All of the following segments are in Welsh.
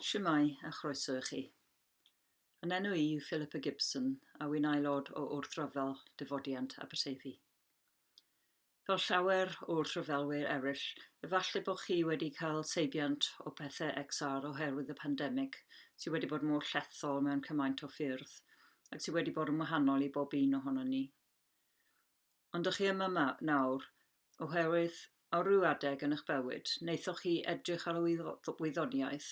Shwmae a chroeso i chi. Yn enw i yw Philippa Gibson a wy'n aelod o wrthryfel Dyfodiant Aberteifi. Fel llawer o wrthryfelwyr eraill, efallai bod chi wedi cael seibiant o bethau XR oherwydd y pandemig sydd wedi bod mor llethol mewn cymaint o ffyrdd ac sydd wedi bod yn wahanol i bob un ohono ni. ond dych chi yma 'ma nawr oherwydd ar ryw adeg yn eich bywyd, wnaethoch chi edrych ar y wyddoniaeth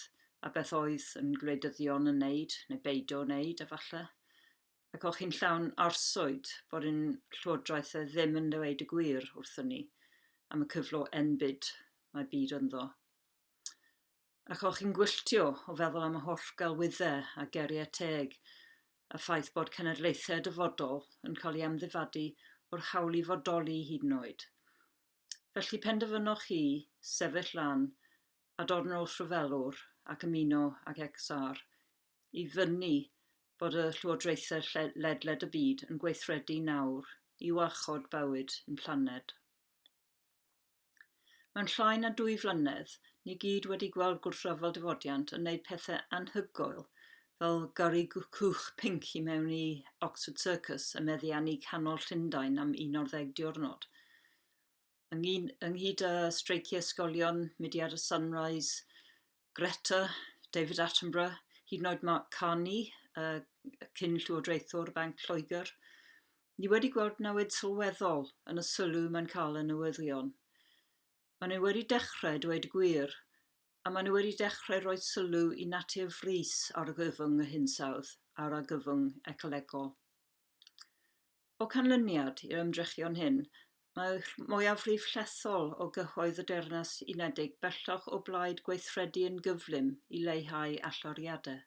a beth oedd yn gwleidyddion yn wneud, neu beidio wneud efallai, ac o'ch chi'n llawn arswyd bod ein llywodraeth e ddim yn dweud y gwir wrthyn ni am y cyflog enbyd mae byd ynddo. Ac o'ch chi'n gwylltio o feddwl am y holl gelwyddau a geriau teg, a ffaith bod cenedlaethau dyfodol yn cael ei amddifadu o'r hawl i fodoli hyd yn oed? Felly penderfynoch chi sefyll lan a dod yn ôl rhyfelwr ac ymuno ag XR i fynnu bod y llywodraethau ledled y byd yn gweithredu nawr i warchod bywyd ein planed. Mewn llai na dwy flynedd, ni gyd wedi gweld gwrthryfel dyfodiant yn wneud pethau anhygoel fel gyrru cwch pinc i mewn i Oxford Circus a meddiannu canol Llundain am 11 diwrnod. Ynghyd â streiciau ysgolion, mudiad y Sunrise, Greta, David Attenborough, hyd yn oed Mark Carney, uh, cyn llywodraethwr Banc Lloegr, ni wedi gweld newid sylweddol yn y sylw mae'n cael y newyddion. Maen nhw wedi dechrau dweud gwir, a maen nhw wedi dechrau rhoi sylw i natur frys argyfwng y hinsawdd a'r argyfwng ecolegol. O ganlyniad i'r ymdrechion hyn, mae'r mwyafrif llethol o gyhoedd y Deyrnas Unedig bellach o blaid gweithredu yn gyflym i leihau allyriadau.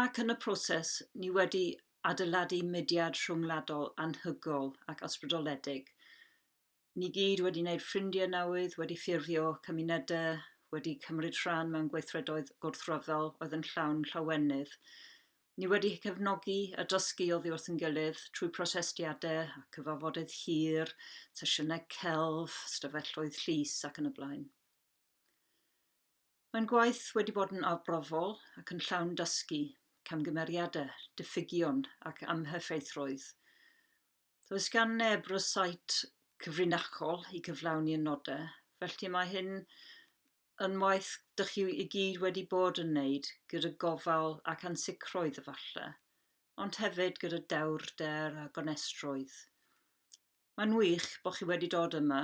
Ac yn y proses, ni wedi adeiladu mudiad rhyngwladol anhygoel ac ysbrydoledig Ni gyd wedi wneud ffrindiau newydd, wedi ffurfio cymunedau, wedi cymryd rhan mewn gweithredoedd gwrthryfel oedd yn llawn llawenydd. Ni wedi cefnogi a dysgu oddi wrth yn gilydd trwy protestiadau a cyfafodydd hir, sesiynau celf, stafelloedd llys ac yn y blaen. Mae'n gwaith wedi bod yn arbrofol ac yn llawn dysgu, camgymeriadau, diffygion ac amheffeithrwydd. Does gan neb rysáit cyfrinachol i gyflawni y nodau, felly mae hyn yn waith dych chi i gyd wedi bod yn wneud gyda gofal ac ansicrwydd efallai, ond hefyd gyda dewrder a gonestrwydd. Mae'n wych bod chi wedi dod yma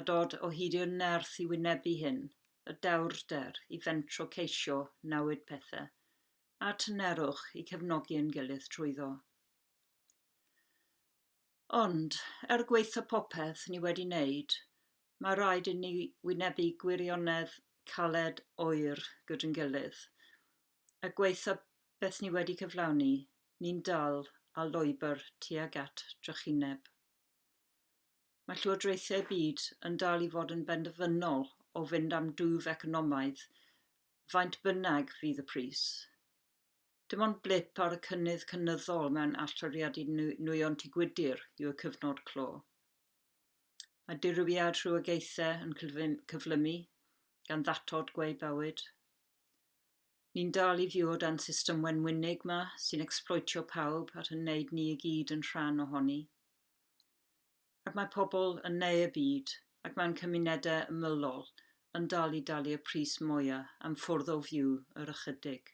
a dod o hyd i'r nerth i wynebu hyn, y dewrder i fentro ceisio newid pethau, a tynerwch i cefnogi ein gilydd trwyddo. Ond, er gwaetha' popeth ni wedi wneud, mae rhaid inni wynebu gwirionedd caled oer gyd'n gilydd, a gwaetha' beth ni wedi cyflawni, ni'n dal â lwybr tuag at drychineb. Mae llywodraethau y byd yn dal i fod yn benderfynol o fynd am dwf economaidd faint bynnag fydd y pris. Dim ond blip ar y cynnydd cynyddol mewn allyriadu nwyon Tŷ Gwydir yw y cyfnod clo. Mae dirywiad rhywogaethau yn cyflymu, gan ddatod gweu bywyd. Ni'n dal i fyw o dan system wenwynig 'ma sy'n ecsbloetio pawb a'n wneud ni i gyd yn rhan ohoni. Ac mae pobl yn neu y byd ac mewn cymunedau ymylol yn dal i dalu y pris mwya am ffwrdd o fyw yr ychydig.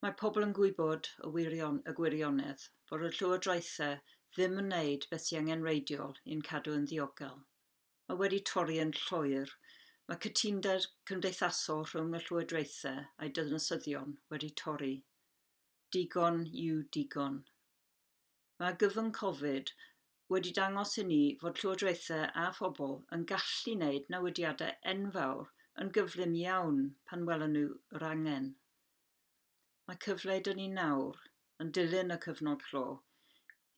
Mae pobl yn gwybod y wirion, y gwirionedd fod y llywodraethau ddim yn neud beth sy angen reidiol i'n cadw yn ddiogel. Mae wedi torri yn llwyr, mae cytunded cymdeithasol rhwng y llywodraethau a'i dydnasyddion wedi torri. Digon yw digon. Mae gyfwng Covid wedi dangos i ni fod llywodraethau a phobl yn gallu wneud newidiadau enfawr yn gyflym iawn pan welon nhw yr angen. Mae cyfle 'da ni nawr, yn dilyn y cyfnod clo,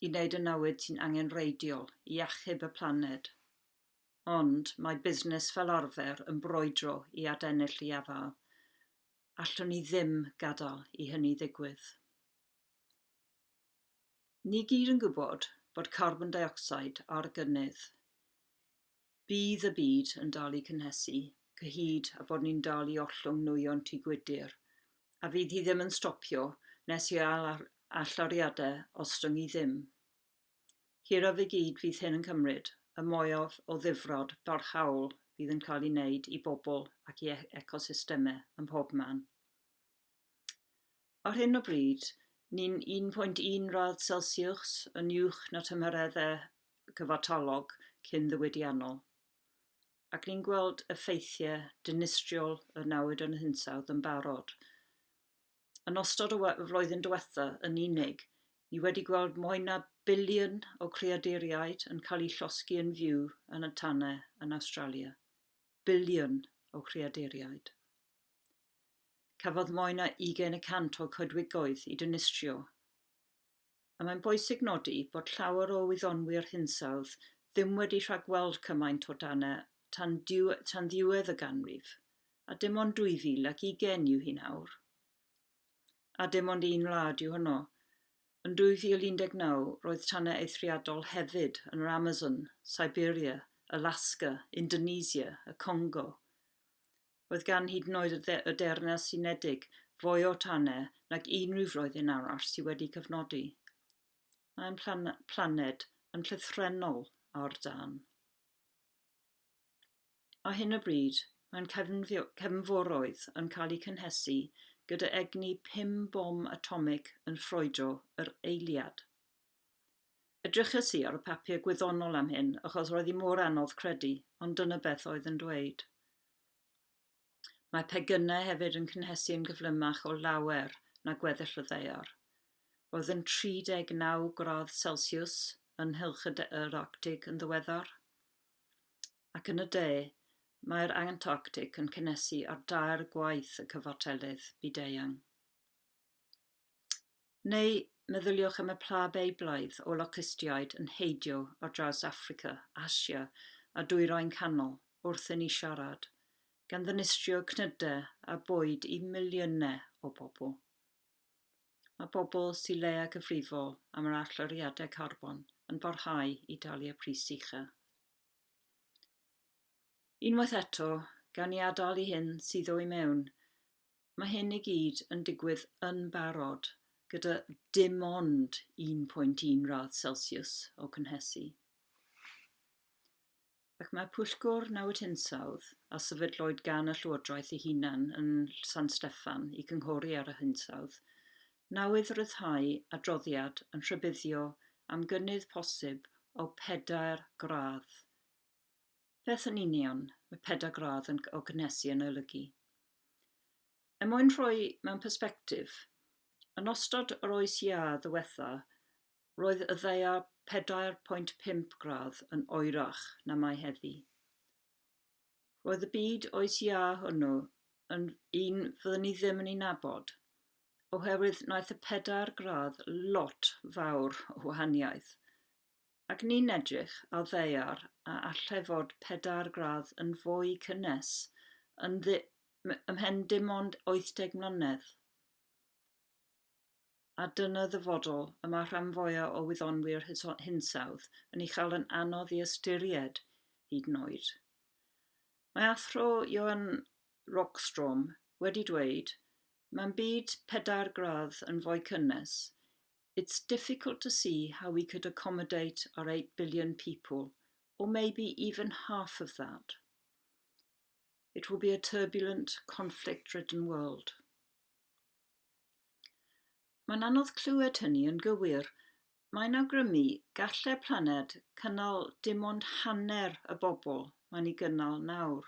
i wneud y newid sy'n angenrheidiol i achub y planed. Ond mae busnes fel arfer yn brwydro i adennill ei afael. Allwn ni ddim gadael i hynny ddigwydd. Ni gyd yn gwybod bod carbon deuocsid ar gynnydd. Bydd y byd yn dal i cynhesu, cyhyd a bod ni'n dal i ollwng nwyon tŷ gwydr, a fydd hi ddim yn stopio nes i allyriadau ostyngu ddim. Hiraf i gyd fydd hyn yn cymryd, y mwyaf o ddifrod barhaol fydd yn cael ei wneud i bobl ac i ecosystemau ym mhobman. Ar hyn o bryd, ni'n 1.1 radd Celsiws yn uwch na tymhereddau cyfartalog cyn-ddiwydiannol, ac ni'n gweld effeithiau dinistriol y newid yn hinsawdd yn barod. Yn ystod y flwyddyn diwethaf yn unig, ni wedi gweld mwy na biliwn o creaduriaid yn cael eu llosgi yn fyw yn y tanau yn Awstralia. Biliwn o greaduriaid. Cafodd mwy na ugain y cant o'r coedwigoedd eu dinistrio. A mae'n bwysig nodi bod llawer o wyddonwyr hinsawdd ddim wedi rhagweld cymaint o dane tan ddiwedd y ganrif, a dim ond 2020 yw hi nawr. A dim ond un wlad yw honno. Yn 2019, roedd tanau eithriadol hefyd yn yr Amazon, Siberia, Alaska, Indonesia, y Congo. Roedd gan hyd yn oed y y Deyrnas Unedig fwy o tanau nag unrhyw flwyddyn arall sydd wedi cyfnodi. Mae ein plan planed yn llythrennol ar dân. Ar hyn o bryd, mae'n cefnfio- cefnforoedd yn cael eu cynhesu gyda egni pum bom atomig yn ffrwydro yr eiliad. Edryches i ar y papur gwyddonol am hyn, achos roedd hi mor anodd credu, ond dyna beth oedd yn dweud. Mae pegynau hefyd yn cynhesu yn gyflymach o lawer na gweddill y ddaear. Roedd yn 39 gradd Celsiws yn Nhylch yr Arctig yn ddiweddar. Ac yn y de, mae'r Antarctic yn cynhesu ar dair gwaith y cyfartelydd byd-eang. Neu meddyliwch am y pla Beiblaidd o locystïaid yn heidio ar draws Affrica, Asia a Dwyrain Canol wrth inni siarad, gan ddinistrio cnydau a bwyd i miliynau o bobl. Mae pobl Sir Leia cyfrifol am yr allyriadau carbon yn parhau i dalu y pris ucha. Unwaith eto, gawn ni adael i hyn suddo i mewn Mae hyn i gyd yn digwydd yn barod gyda dim ond 1.1 radd Celsius o cynhesu. Ac mae Pwyllgor Newid Hinsawdd, a sefydlwyd gan y Llywodraeth ei hunan yn San Steffan i gynghori ar y hinsawdd, newydd ryddhau adroddiad yn rhybuddio am gynnydd posib o pedair gradd Beth yn union mae pedagradd yn o gynhesu yn olygu? Er mwyn rhoi mewn persbectif, yn ystod yr oes iâ ddiwetha, roedd y ddaear 4.5 gradd yn oerach na mae heddi. Roedd y byd oes iâ hwnnw yn un fyddwn ni ddim yn ei nabod, oherwydd wnaeth y pedair gradd lot fawr o wahaniaeth. Ac ni'n edrych ar ddaear a allai fod pedair gradd yn fwy cynnes yn ddi- m- ymhen dim ond 80 mlynedd. A dyna ddyfodol y mae rhan fwya' o wyddonwyr hyso- hinsawdd yn ei chael yn anodd i ystyried, hyd yn oed. Mae Athro Johan Rockstrom wedi dweud, Mae'n byd pedair gradd yn fwy cynnes, It's difficult to see how we could accommodate our eight billion people, or maybe even half of that. It will be a turbulent, conflict-ridden world. Mae'n anodd clywed hynny yn gywir. Mae'n awgrymu gallai planed cynnal dim ond hanner y bobl mae'n ei gynnal nawr.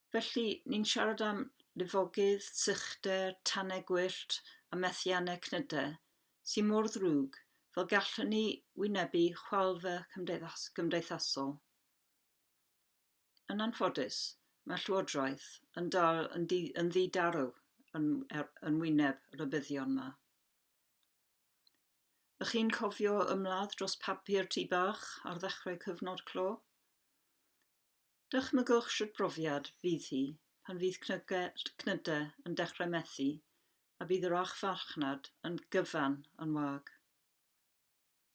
Felly, ni'n siarad am lifogydd, sychder, tanau gwyllt a methiannau cnydau, sy mor ddrwg, fel gallwn ni wynebu chwalfa cymdeithas cymdeithasol. Yn anffodus, mae Llywodraeth yn dal yn, di, yn ddidarw yn, er, yn wyneb rybuddion yma. Ych chi'n cofio ymladd dros papur tŷ bach ar ddechrau cyfnod clo? Dychmygwch sut brofiad fydd hi pan fydd cnydau yn dechrau methu a bydd yr och farchnad yn gyfan yn wag.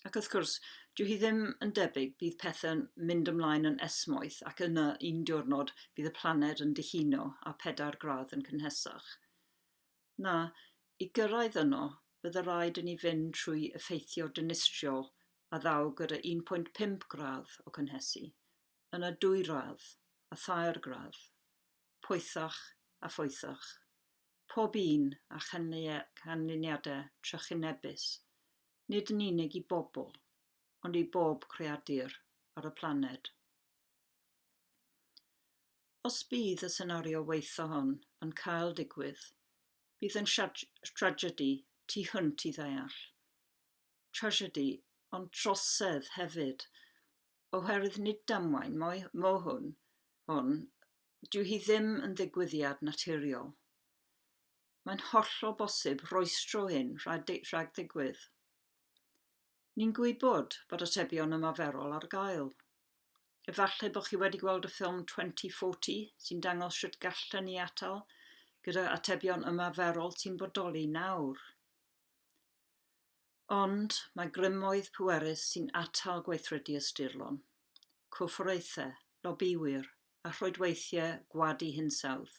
Ac wrth gwrs, dyw hi ddim yn debyg, bydd pethau'n mynd ymlaen yn esmwyth ac yna un diwrnod bydd y planed yn dihuno a pedair gradd yn cynhesach. Na, i gyrraedd yno, bydde raid i ni fynd trwy effeithio dinistriol a ddaw gyda 1.5 gradd o cynhesu. yn y dwyradd a thairgradd, poethach a phoethach, pob un â chanlyniadau trychinebus, nid yn unig i bobl, ond i bob creadur ar y planed. Os bydd y senario waetha hon yn cael digwydd, bydd yn tragedi tu hwnt i ddeall. trasiedi ond trosedd hefyd oherwydd nid damwain moe hwn, hwn, dyw hi ddim yn ddigwyddiad naturiol. Mae'n hollol bosib rwystro hyn rhag, rhag digwydd. Ni'n gwybod bod atebion ymarferol ar gael. Efallai bod chi wedi gweld y ffilm 2040 sy'n dangos sut gallen ni atal gyda atebion ymarferol sy'n bodoli nawr. Ond mae grymoedd pwerus sy'n atal gweithredu ysturlon, corfforaethau, lobïwyr a rhoedweithiau gwadu hinsawdd,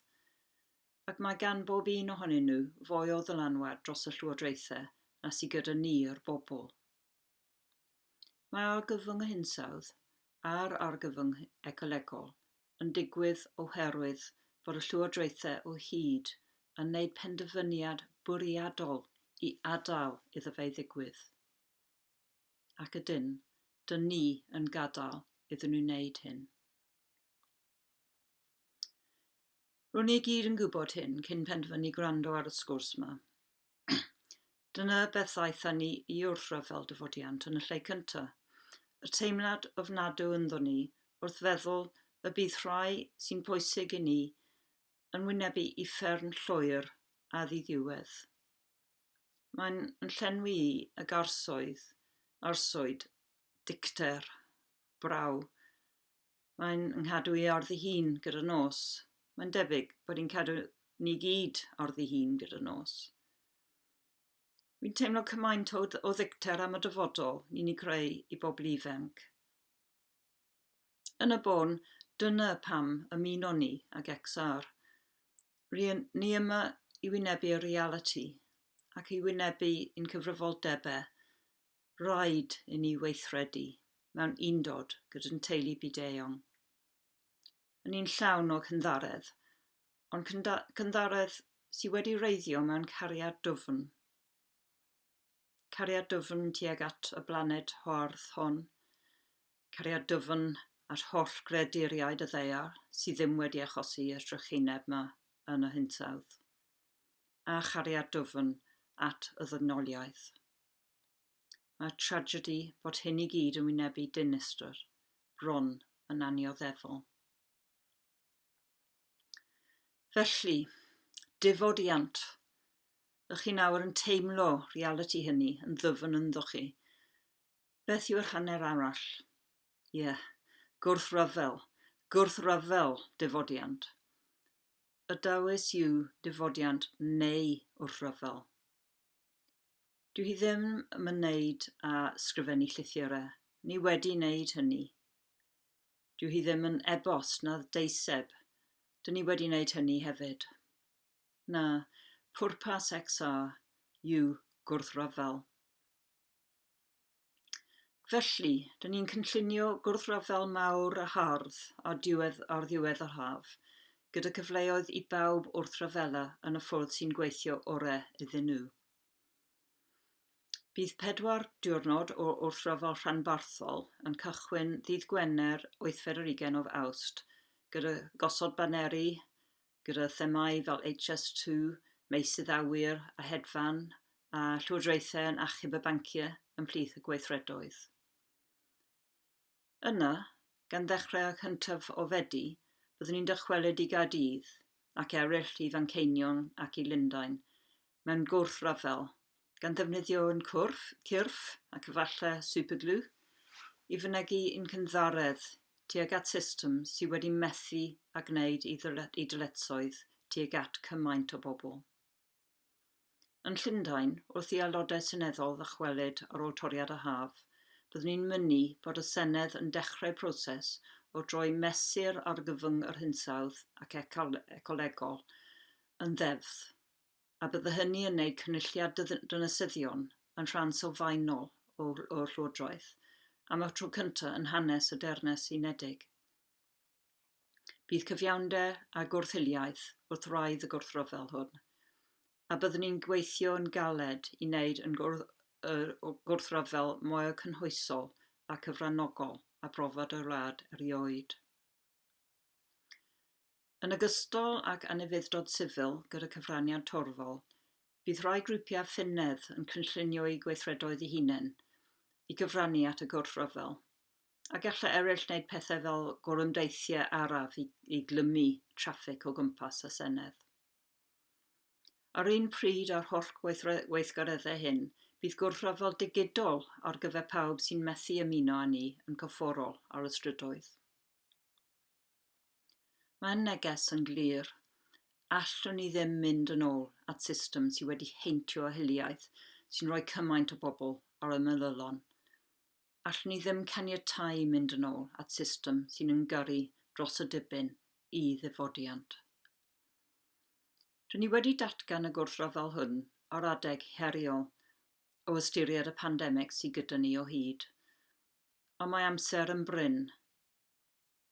ac mae gan bob un ohonyn nhw fwy o ddylanwad dros y llywodraethau na sy gyda ni, yr bobl. Mae argyfwng hinsawdd a'r argyfwng ecolegol yn digwydd oherwydd bod y llywodraethau o hyd yn gwneud penderfyniad bwriadol i adael iddo fe ddigwydd, ac ydyn, dŷn ni yn gadael iddyn nhw wneud hyn. Ro'n ni i gyd yn gwybod hyn cyn penderfynu gwrando ar y sgwrs 'ma. Dyna beth aethon ni i wrthryfel fel dyfodiant yn y lle cyntaf. Y teimlad ofnadw ynddo ni wrth feddwl y bydd rhai sy'n bwysig i ni yn wynebu uffern llwyr a ddiddiwedd. Mae'n yn llenwi i ag arsoedd, arswyd, dicter, braw, Mae'n nghadw i orddi hun gyda'r nos. Mae'n debyg bod hi'n cadw ni gyd orddi hun gyda'r nos. Fi'n teimlo cymaint o, o ddicter am y dyfodol ni'n ei creu i bobl ifanc. Yn y bôn, dyna pam ymuno ni ag XR. Rydyn ni yma i wynebu y reality ac i wynebu i'n cyfrifoldebau rhaid i ni weithredu mewn undod gyda'n teulu byd-eang. Yn un llawn o cynddaredd, ond cynddaredd sydd wedi reiddio mewn cariad dwfn. Cariad dwfn tuag at y blaned hoardd hon, cariad dwfn at holl greaduriaid y ddaear sydd ddim wedi achosi y drychineb yma yn y hinsawdd, a chariad dwfn at y ddygnoliaeth. Mae'r tragedi bod hyn i gyd yn wynebu dinistr bron yn annioddefol. Felly, difodiant, ych chi nawr yn teimlo realiti hynny yn ddyfn ynddo chi? Beth yw'r hanner arall? Ie, yeah. gwrthryfel, gwrthryfel difodiant. Y dawys yw difodiant neu wrthryfel. Dyw hi ddim yn ymwneud â sgrifennu llythyre, ni wedi wneud hynny. Dyw hi ddim yn ebost na deiseb, dyn ni wedi wneud hynny hefyd. Na, pwrpas XR yw gwrthryfel. Felly, dyn ni'n cynllunio gwrthryfel mawr a hardd ar diwedd, ar ddiwedd yr haf, gyda cyfleoedd i bawb wrth ryfela yn y ffordd sy'n gweithio orau iddyn nhw. Bydd pedwar diwrnod o wrthryfel rhanbarthol yn cychwyn ddydd Gwener 8 ar 20 o Awst, gyda gosod baneri gyda themâu fel HS2, meysydd awyr a hedfan, a llywodraethau yn achub y banciau ymhlith y gweithredoedd. Yna, gan ddechrau â chyntaf o Fedi, byddwn ni'n dychwelyd i Gaerdydd ac eraill i Fanceinion ac i Lundain, mewn gwrthryfel, gan ddefnyddio un cwrf, cyrff, ac efallai superglue, i fynegi un cynddaredd tuag at system sydd wedi methu â gwneud ei dyletswydd tuag at cymaint o bobl. Yn Llundain, wrth i Aelodau Seneddol ddychwelyd ar ôl toriad y haf, byddwn i'n mynnu bod y Senedd yn dechrau proses o droi Mesur Argyfwng yr Hinsawdd ac Ecolegol yn ddeddf. a bydde hynny yn neud cynulliad dynasyddion yn rhan sylfaenol o'r Llywodraeth am y tro cyntaf yn hanes y Deyrnas Unedig. Bydd cyfiawnder a gwrth-hiliaeth wrth wraidd y gwrthryfel hwn, a byddwn ni'n gweithio yn galed i wneud yn y gwrthryfel mwyaf cynhwysol a cyfranogol a brofodd y wlad erioed. Yn ogystal ag anufudd-dod sifil gyda cyfraniad torfol, bydd rhai grwpiau ffynedd yn cynllunio eu gweithredoedd eu hunain i gyfrannu at y gwrthryfel, a gallai eraill wneud pethau fel gorymdeithiau araf i i glymu traffig o gwmpas y Senedd. Ar un pryd â'r holl gweithre- weithgareddau hyn, bydd gwrthryfel digidol ar gyfer pawb sy'n methu ymuno â ni yn gorfforol ar y strydoedd. Mae'r neges yn glir, allwn ni ddim mynd yn ôl at system sydd wedi heintio â hiliaeth, sy'n rhoi cymaint o bobl ar y meddylion. Allwn ni ddim caniatáu mynd yn ôl at system sy'n ymgyrru dros y dibyn i ddifodiant. Rydyn ni wedi datgan y gwrthryfel hwn ar adeg heriol o ystyried y pandemig sydd gyda ni o hyd. Ond mae amser yn brin.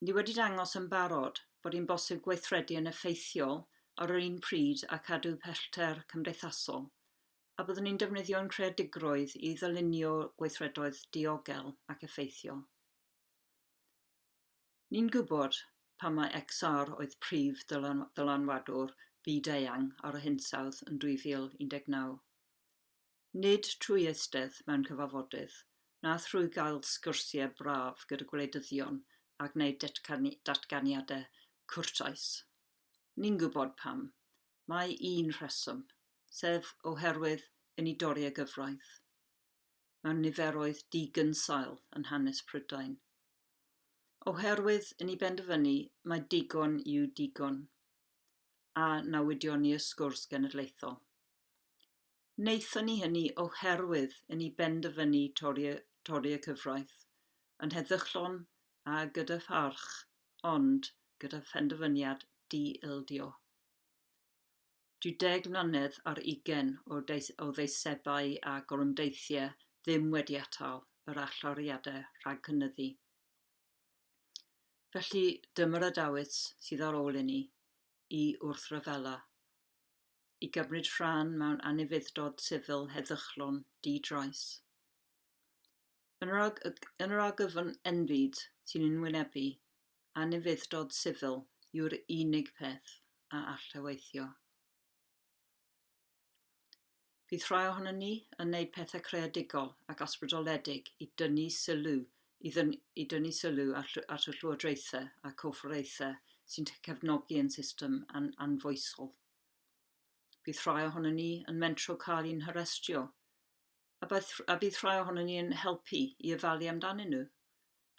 Ni wedi dangos yn barod bod hi'n bosib gweithredu yn effeithiol ar yr un pryd a chadw pellter cymdeithasol, a byddwn ni'n defnyddio ein creadigrwydd i ddylunio gweithredoedd diogel ac effeithiol. Ni'n gwybod pam mai XR oedd prif ddylanwadwr byd-eang ar yr hinsawdd yn 2019. Nid trwy eistedd mewn cyfarfodydd, na thrwy gael sgyrsiau braf gyda gwleidyddion a gwneud datganiadau cwrtais. Ni'n gwybod pam. Mae un rheswm, sef oherwydd i ni dorri y gyfraith mewn niferoedd digynsail yn hanes Prydain. Oherwydd i ni benderfynu mai digon yw digon, a newidion ni y sgwrs genedlaethol. Wnaethon ni hynny oherwydd i ni benderfynu torri y cyfraith, yn heddychlon a gyda pharch, ond gyda phenderfyniad di-ildio. Dyw deg mlynedd ar ugain o ddeisebau a gorymdeithiau ddim wedi atal yr allyriadau rhag cynyddu. Felly, dyma'r adawyd sydd ar ôl inni i wrthryfela. i gymryd rhan mewn anufudd-dod sifil heddychlon di-drais. Yn yr, arg yn yr argyfwng enfyd sy'n ein wynebu, anufudd-dod sifil yw'r unig peth a all eweithio. Bydd rhai ohonon ni yn wneud pethau creadigol ac ysbrydoledig i dynnu sylw i dynnu sylw at y llywodraethau a'r corfforaethau sy'n cefnogi ein system anfoesol. Bydd rhai ohonon ni yn mentro cael i'n harestio, a bydd rhai ohonon ni yn helpu i ofalu amdanyn nhw.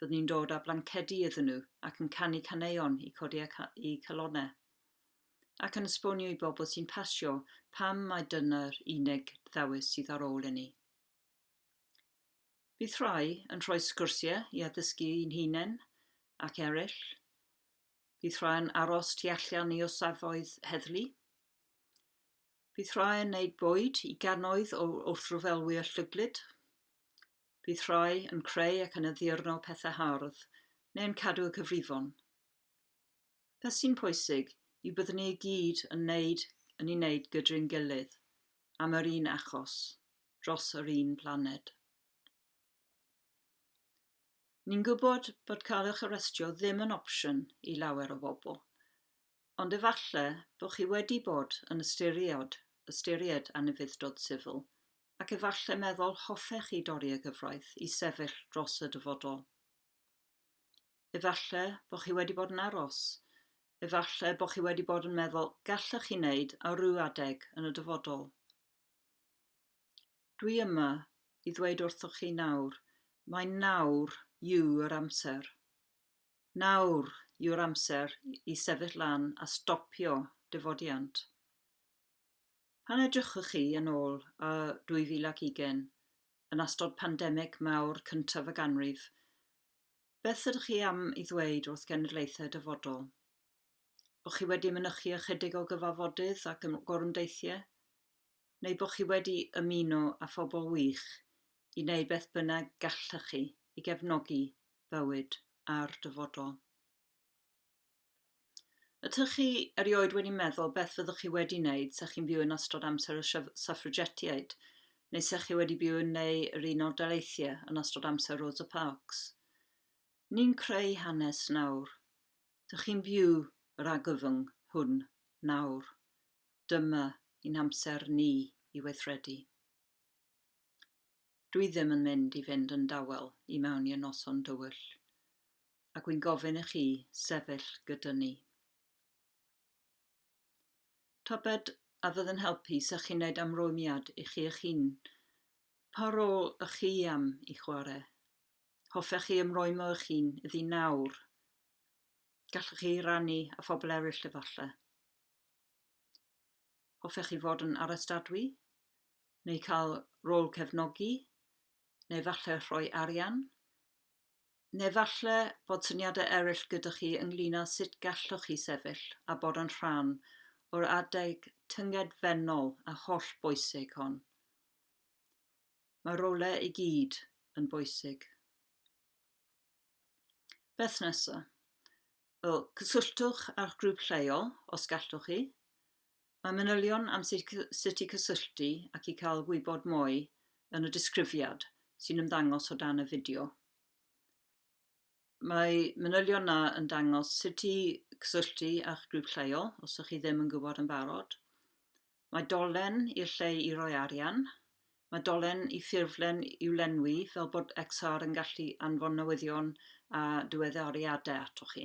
Byddwn ni'n dod â blancedi iddyn nhw ac yn canu caneuon i codi eu calonnau, ac yn esbonio i bobl sy'n pasio pam mai dyna'r unig ddewis sydd ar ôl inni. Bydd rhai yn rhoi sgwrsiau i addysgu ein hunain ac eraill, bydd rhai yn aros tu allan i osafoedd heddlu, bydd rhai yn neud bwyd i gannoedd o wrthryfelwyr llyglyd, bydd rhai yn creu ac yn addurno pethau hardd, neu'n cadw y cyfrifon. Beth sy'n pwysig yw byddwn ni i gyd yn wneud yn i wneud gydry'n gilydd, am yr un achos, dros yr un planed. Ni'n gwybod bod cael eich arestio ddim yn opsiwn i lawer o bobl, ond efallai bod chi wedi bod yn ystyried, ystyried anufudd-dod sifil, ac efallai meddwl hoffech chi dorri y gyfraith i sefyll dros y dyfodol. Efalle bo' chi wedi bod yn aros. Efalle bo' chi wedi bod yn meddwl, 'Gallech chi wneud ar ryw adeg yn y dyfodol. Dwi yma i ddweud wrthoch chi nawr, mai nawr yw'r amser. Nawr yw'r amser i sefyll lan a stopio difodiant. Pan edrychwch chi yn ôl a 2020, yn astod pandemig mawr cyntaf y ganrif, Beth ydych chi am ei ddweud wrth genedlaethau dyfodol? Bo' chi wedi mynychu ychydig o gyfafodydd ac ym gorymdeithiau? Neu bo' chi wedi ymuno â phobl wych i wneud beth bynnag gallech chi i gefnogi bywyd a'r dyfodol? Ydych chi erioed wedi meddwl beth fyddwch chi wedi wneud sa chi'n byw yn ystod amser y Suffragetiaid, neu sa chi wedi byw yn neu yr Unol Daleithiau yn ystod amser Rosa Parks? Ni'n creu hanes nawr. Dych chi'n byw yr argyfwng hwn nawr. Dyma i'n amser ni i weithredu. Dwi ddim yn mynd i fynd yn dawel i mewn i'r noson dywyll. ac wy'n gofyn i chi sefyll gyda ni. Tybed a fydd yn helpu sa chi'n neud amrwymiad i chi eich hun? Pa rôl ych chi am i chwarae? Hoffech chi ymrwymo eich hun iddi nawr? Gallwch chi rannu a phobl eraill efallai. Hoffech chi fod yn arestadwy? Neu cael rôl cefnogi? Neu falle rhoi arian? Neu falle fod syniadau eraill gyda chi ynglŷn â sut gallwch chi sefyll a bod yn rhan o'r adeg tyngedfennol a hollbwysig hon. Mae'r rolau i gyd yn bwysig. Beth nesaf? Wel, cysylltwch â'ch grŵp lleol, os gallwch chi, Mae manylion am sut i cysylltu ac i cael gwybod mwy yn y disgrifiad sy'n ymddangos o dan y fideo. Mae manylion na yn dangos sut i cysylltu â'ch grŵp lleol os ydych chi ddim yn gwybod yn barod. Mae dolen i'r lle i roi arian. Mae dolen i ffurflen i'w lenwi fel bod XR yn gallu anfon newyddion a diweddariadau atoch chi.